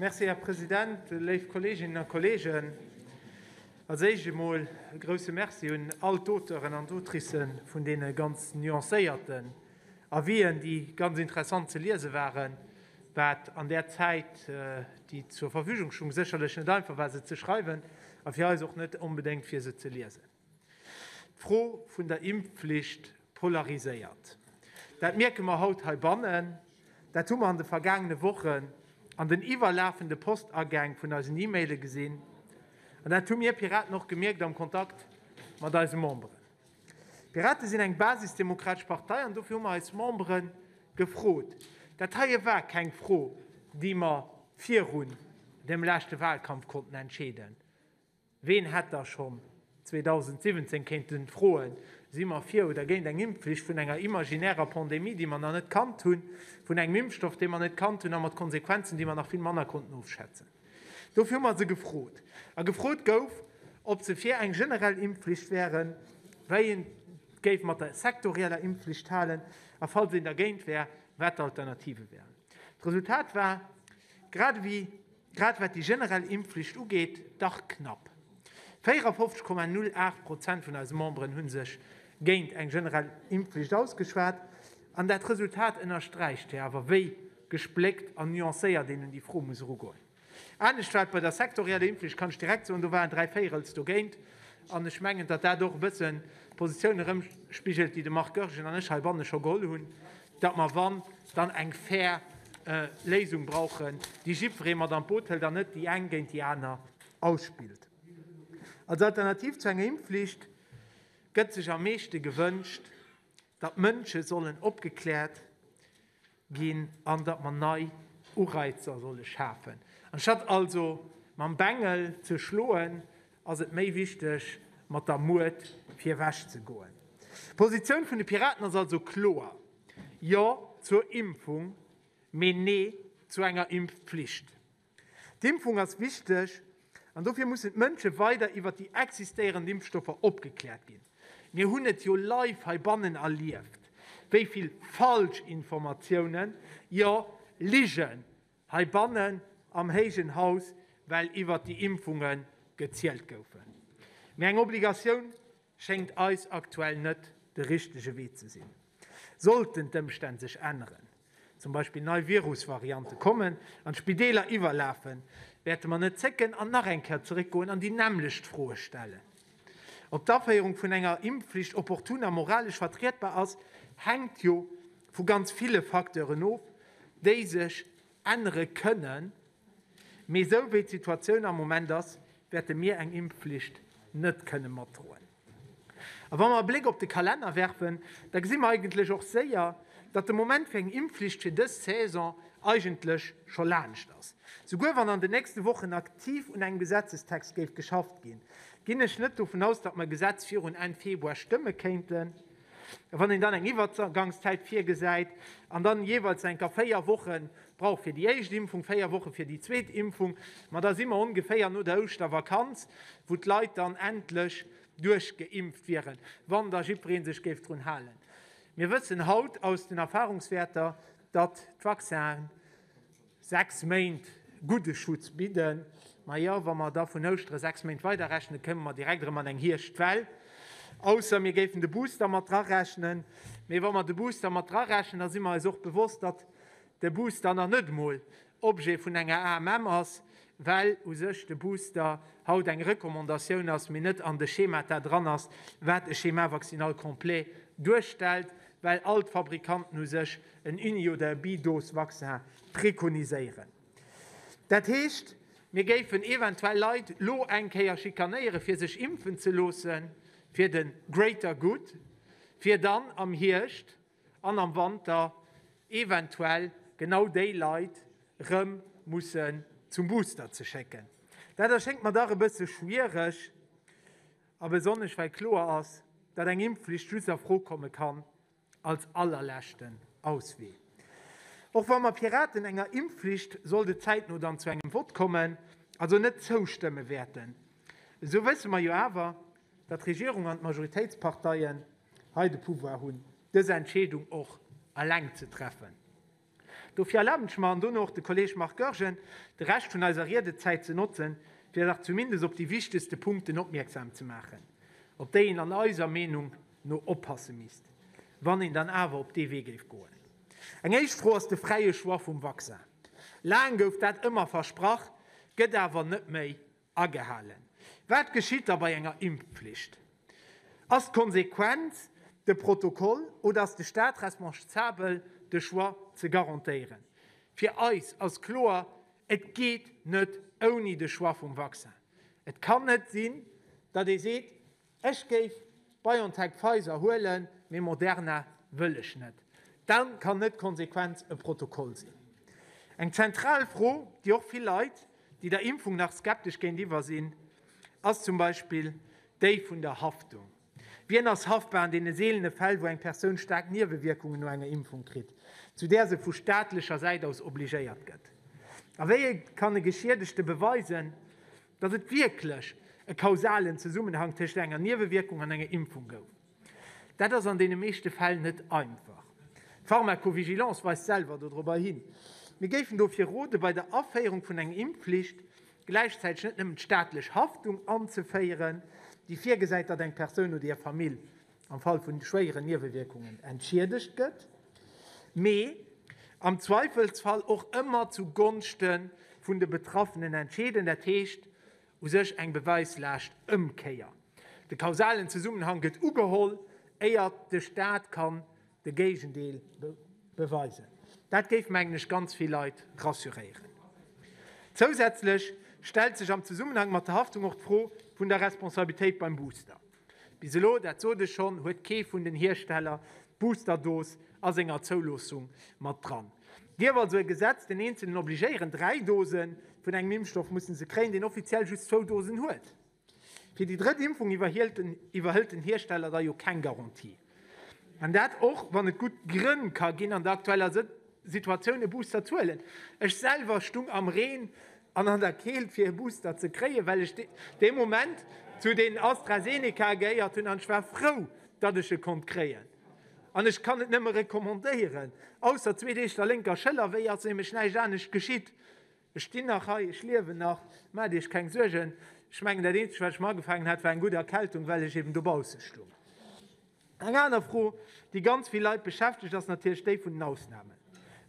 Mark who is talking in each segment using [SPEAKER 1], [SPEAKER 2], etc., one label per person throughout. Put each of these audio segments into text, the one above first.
[SPEAKER 1] Merci, Här President. Léif Kolleeginnen a Kolleegen, als Éischt emol e grouse Merci un all d'Auteuren an d'Autricë vun deene ganz nuancéierten Avisen, déi ganz interessant ze liese waren, wat an där Zäit, déi zur Verfügung stung, sécherlech net einfach war, se ze schreiwen a fir eis och net onbedéngt, fir se ze liesen. D'Fro vun der Impfflicht polariséiert. Dat mierke mer haut heibannen, dat hu mer an de vergaangene Wochen an den iwwerlafende Postagäng vun eisen E-Maile gesinn an dat hu mir Piraten och gemierkt am Kontakt mat eise Memberen. D'Pirate sinn eng basisdemokratesch Partei an dofir hu mer eis Membere gefrot. Dat heie war keng Fro, déi mer virun dem leschte Wahlkampf konnten entscheeden. Ween hätt da schonn 2017 kéinten froen, si mer fir oder géint eng Impfflicht vun enger imaginärer Pandemie, déi mer nach net kannt hunn, vun engem Impfstoff, dee mer net kannt hunn a mat Konsequenzen, déi mer nach vill manner konnten ofschätzen? Dofir hu mer se gefrot. A gefrot gouf, ob se fir eng generell Impfflicht wären, wei een et géif mat der sektorieller Impfflicht halen a falls een dergéint wär, wat d'Alternative wären. D'Resultat war, grad ewéi grad wat déi generell Impfflicht ugeet, dach knapp. 54,08 Prozent vun eise Memberen hu sech géint eng generell Impfflicht ausgeschwat. An dat Resultat ënnersträicht hir awer, wéi gespléckt an nuancéiert een un déi Fro muss erugoen. Anescht wat bei der sektorieller Impfflicht kann ech direkt soen, do waren dräi Véirels dogéint. An ech mengen, datt dat och e bëssen d'Positioun erëmspigelt, déi de Marc Goergen an ech heibanne scho geholl hunn. datt mer, wann dann, eng fair Léisung brauchen, déi jiddweree mat an d'Boot hëlt an net déi eng géint déi aner ausspillt. Als Alternativ zu enger Impfflicht gëtt sech am meeschte gewënscht, datt d'Mënsche sollen opgekläert ginn an datt mer nei Ureizer solle schafen, anstatt also mam Bengel ze schloen Ass et méi wichteg, mat der Mued virwech ze goen? D'Positioun vun de Piraten ass also kloer, Jo zur Impfung, mee Nee zu enger Impfflicht. D'Impfung ass wichteg an dofir mussen d'Mënsche weider iwwert déi existéierend Impfstoffer opgekläert ginn. Mir hunn et jo live heibannen erlieft, wéi vill Falschinformatiounen, jo Ligen Heibannen am héijen Haus, well iwwert déi Impfunge gezielt goufen. Mee eng Obligatioun schéngt eis aktuell net de richtege Wee ze sinn. Sollten d'Ëmstänn sech änneren, zum Beispill nei Virusvariante kommen an d'Spideeler iwwerlafen, wäerte mer net zécken an nach eng Kéier zeréckgoen an déi nämmlecht Froe stellen. Ob d'Aféierung vun enger Impfflicht opportun a moralesch vertrietbar ass, hänkt jo vu ganz ville Facteuren of, déi sech ännere kënnen. Mee esou wéi d'Situatioun am Moment ass, wäerte mir eng Impfflicht net kënne matdroen. A wa mer e Bléck op de Kalenner werfen, da gesi mer eigentlech och séier, datt de Moment fir eng Impfflicht fir dës Saison eigentlech scho laanscht ass. Souguer wann an den nächste Wochen aktiv un engem Gesetzestext géif geschafft ginn, ginn ech net dovun aus, datt mer e Gesetz virun Enn Februar stëmme kéinten, wann een dann eng Iwwergangszäit virgesäit an dann jeeweils enker véier Woche brauch fir déi éischt Impfung, véier Woche fir déi zweet Impfung, ma da si mer ongeféier no der Ouschtervakanz, wou d'Leit dann endlech duerchgeimpft wieren, wann da jiddweree sech géif drun halen. Mir wëssen haut aus den Erfahrungswäerter, datt d'Vaccinen, 6 Méint gudde Schutz bidden. Ma jo, wa mer da vun Ouschteren 6 Méint weiderrechnen, komme mer direkt erëm an eng Hierschtwell. Ausser mir géifen de Booster mat drarechnen. Mee wa mer de Booster mat drarechnen, da si mer eis och bewosst, datt de Booster nach net emol Objet vun enger AMM ass, well u sech de Booster haut eng Recommandatioun ass, mee net an de Schemata dran ass, wat e Schéma vaccinal complet duerstellt, well all d'Fabrikanten u sech en Uni oder e Bi-Dos-Vaccin prekoniséieren. Dat heescht, mir géifen eventuell Leit lo eng Kéier schikanéieren, fir sech impfen ze loossen, fir de greater good, fir dann am Hierscht an am Wanter eventuell genau déi Leit erëm mussen zum Booster ze schécken. Dat erschéngt mer dach e bësse schwiereg, a besonnesch well kloer ass, datt eng Impfflicht just a Fro komme kann, als allerleschten Auswee. Och wa mer Piraten enger Impfflicht, sollt et zäitno dann zu engem Vott kommen, also net zoustëmme wäerten, esou wësse mer jo awer, datt d'Regierung an d'Majoritéitsparteien hei de Pouvoir hunn, dës Entscheedung och eleng ze treffen. Dofir erlaabt ech mer, an dono och de Kolleg Marc Goergen, de Rescht vun eiser Riedezäit ze notzen, fir dach zumindest op déi wichtegste Punkten opmierksam ze maachen, op déi een an eiser Meenung no oppasse misst, wann een dann awer op dee Wee géif goen. Eng éischt Fro ass de fräie Choix vum Vaccin. Laang gouf dat ëmmer versprach, gëtt awer net méi Agehalen. Wat geschitt da bei enger Impfflicht? Ass d'Konsequenz de Protokoll oder ass de Staat responsabel de Choix ze garantéieren? Fir eis ass kloer, et geet net ouni de Choix vum Vaccin. Et kann net sinn, datt ee seet, Ech géif Biontech Pfizer huelen, mee Moderna wëll ech net. Dat kann net konsequent e Protokoll sinn. Eng zentral Fro, déi och vill Leit, déi der Impfung nach skeptesch géintiwwer sinn, ass zum Beispill déi vun der Haftung. Wien ass haftbar an deene seelene Fäll, wou eng Persoun staark Niewewierkungen no enger Impfung kritt, zu där se vu staatlecher Säit aus obligéiert gëtt? A wéi kann e Geschiedegte beweisen, dass et wierklech e kausalen Zesummenhang tëscht enger Niewewierkung an enger Impfung gouf. Dat ass an deene meeschte Fäll net einfach. D'Pharmacovigilance weist selwer dodrobber hin. Mir géifen dofir roden, bei der Aféierung vun enger Impfflicht gläichzäiteg net nëmmen d'staatlech Haftung anzeféieren, déi virgesäit, datt eng Persoun oder hir Famill, am Fall vu schwéieren Niewewierkungen entschiedegt gëtt, mee am Zweifelsfall och ëmmer zu Gonschte vun de Betraffenen entscheeden, dat heescht u sech eng Beweislaascht-Ëmkéier. De kausalen Zesummenhang gëtt ugeholl, éiert de Staat kann de Géigendeel beweisen. Dat géif, mengen ech, ganz vill Leit rassuréieren. Zousätzlech stellt sech am Zesummenhang mat der Haftung och d'Fro vun der Responsabilitéit beim Booster. Bis elo, dat sot ech schonn, huet kee vun den Hiersteller d'Boosterdos a senger Zouloossung mat dran. Dierf also e Gesetz den Eenzelen obligéieren, dräi Dose vun engem Impfstoff mussen ze kréien, deen offiziell just zwou Dosen huet? Fir déi drëtt Impfung iwwerhëlt den Hiersteller da jo keng Garantie. An dat och wann et gutt Grënn ka ginn an der aktueller Situatioun e Booster z'huelen. Ech selwer stung am Reen an an der Keelt fir e Booster ze kréien, well ech dee Moment zu den AstraZeneca gehéiert hunn an ech war frou datt ech e konnt kréien an ech kann et nëmme recommandéieren. Ausser zwee Deeg der lénker Schëller wéi ass nämlech näischt anescht geschitt. Ech stinn nach hei, ech liewen nach, maacht iech keng Suergen. Ech mengen, dat eenzegt, wat ech mer agefaangen hat, war eng gutt Erkältung, well ech eben dobausse stung. Eng aner Fro, déi ganz vill Leit beschäftegt, ass natierlech déi vun den Ausnamen.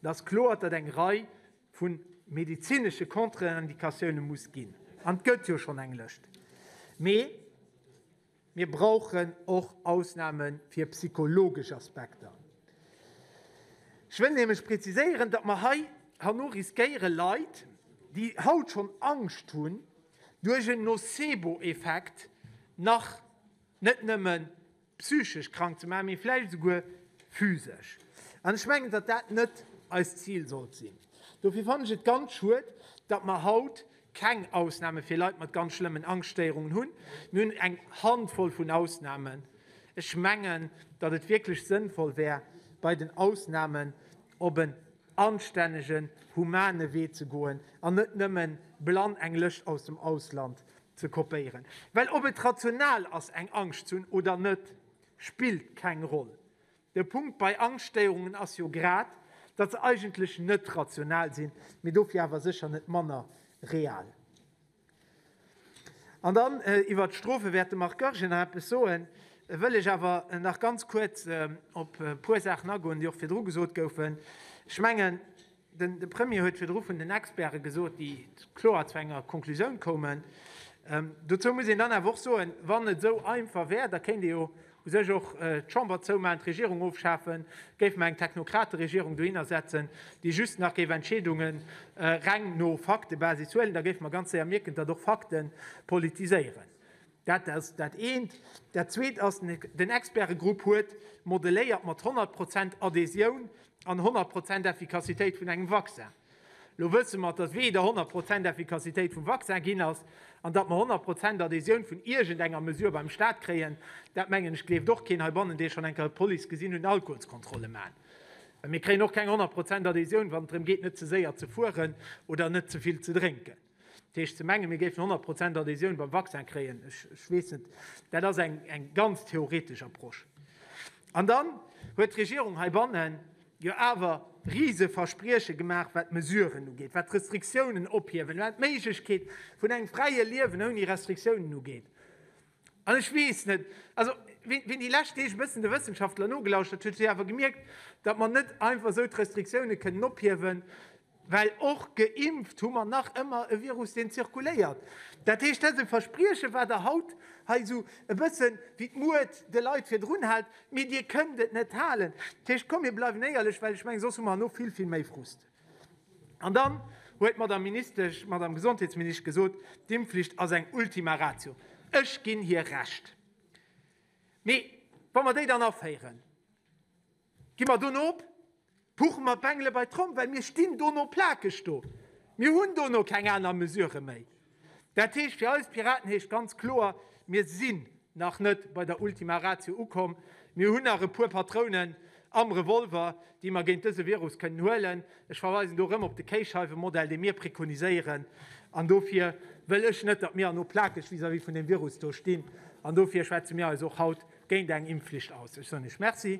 [SPEAKER 1] Et ass kloer, datt eng Rei vu medezinesche Contre-indicatioune muss ginn, an et gëtt jo schonn eng Lëscht. Mee Mir brauchen och Ausname fir psychologesch Aspekter. Ech wëll nämlech preziséieren, datt mer hei herno riskéiere Leit, déi haut schonn Angscht hunn, duerch en Nocebo-Effekt nach net nëmme psychesch krank ze maachen, mee vläicht esouguer physesch. An ech mengen, datt dat net eist Zil sollt sinn. Dofir fannen ech et ganz schued, datt mer haut keng Ausname fir Leit mat ganz schlëmmen Angschtstéierungen hunn. Mir hunn eng Handvoll vun Ausnamen. Ech mengen, datt et wierklech sënnvoll wär, bei den Ausnamen op en anstännegen, humane Wee ze goen an net nëmme blann eng Lëscht aus dem Ausland ze kopéieren. Well ob et rational ass, eng Angscht ze hunn oder net, spillt keng Roll. De Punkt bei Angschtstéierungen ass jo grad, datt se eigentlech net rational sinn, mee dofir awer sécher net manner real. An dann, iwwert d'Strofe wäert de Marc Goergen nach eppes soen, wëll ech awer nach ganz kuerz op e puer Saachen agoen, déi och virdru gesot goufen. Ech mengen, De Premier huet virdru vun den Experte gesot, déi kloer zu enger Konklusioun koumen. Dozou muss een dann awer och soen, wann et esou einfach wär, da kéint ee jo u sech och d'Chamber zoumaachen, d'Regierung ofschafen, géife mer eng Technokrateregierung dohinner setzen, déi just nach géif Entscheedunge reng no Faktebasis huelen, da géife mer ganz séier mierken, datt och Fakte politiséieren. Dat ass dat eent. Dat zweet ass, den Expertegrupp huet modeléiert mat 100 Prozent Adhesioun an 100 Prozent Effikassitéit vun engem Vaccin. Elo wësse mer, datt weder 100 Prozent Effikassitéit vum Vaccin ginn ass an datt mer 100 Prozent Adhesioun vun iergendenger Mesure beim Staat kréien. Dat, mengen ech, gleeft och keen heibannen, dee schonn eng Kéier d'Police gesinn huet, Alkoholskontrolle maachen. Mä mir kréien och keng 100 Prozent Adhesioun, wann et drëm geet, net ze séier ze fueren oder net ze vill ze drénken. Dat heescht, ze mengen, mir géifen 100 Prozent Adhésioun beim Vaccin kréien, ech weess net, dat ass eng ganz theoretesch Approche. An dann huet d'Regierung heibannen jo awer rise Versprieche gemaach, wat d'Mesuren ugeet, wat d'Restriktiounen ophiewen, wat d'Méiglechkeet vun engem fräie Liewen ouni Restriktiounen ugeet. An ech weess net, also wien déi lescht Deeg e bëssen de Wëssenschaftler nogelauschtert huet, huet awer gemierkt, datt mer net einfach esou d'Restriktiounen kënnen ophiewen, Well och geimpft hu mer nach ëmmer e Virus, deen zirkuléiert. Dat heescht, dat ass e Versprieche wat Der haut hei esou e bësse wéi d'Muert de Leit virdrun haalt, mee Dir kënnt et net halen. Dat heescht, komm mir bleiwen éierlech, well ech mengen, soss hu mer herno vill, vill méi Frust. An dann huet d'Madame Ministesch, d'Madame Gesondheetsministesch gesot, d'Impfflicht ass eng Ultima Ratio. Ech ginn hir Recht. Mee wa mer déi dann aféieren, Gi mer dono op, puche mer d'Bengele bei d'Tromm, well mir stinn dono plakeg do. Mir hunn dono keng aner Mesure méi. Dat heescht, fir eis Piraten heescht ganz kloer, mir sinn nach net bei der Ultima Ratio ukomm. Mir hunn nach e puer Patrounen am Revolver, déi mer géint dëse Virus kënnen huelen. Ech verweisen do erëm op de Kéisscheifemodell, dee mir préconiséieren. An dofir wëll ech net, datt mir erno plakeg vis-à-vis vun deem Virus do stinn. An dofir schwätze mir eis och haut Géint eng Impfflicht aus? Ech soen Iech Merci.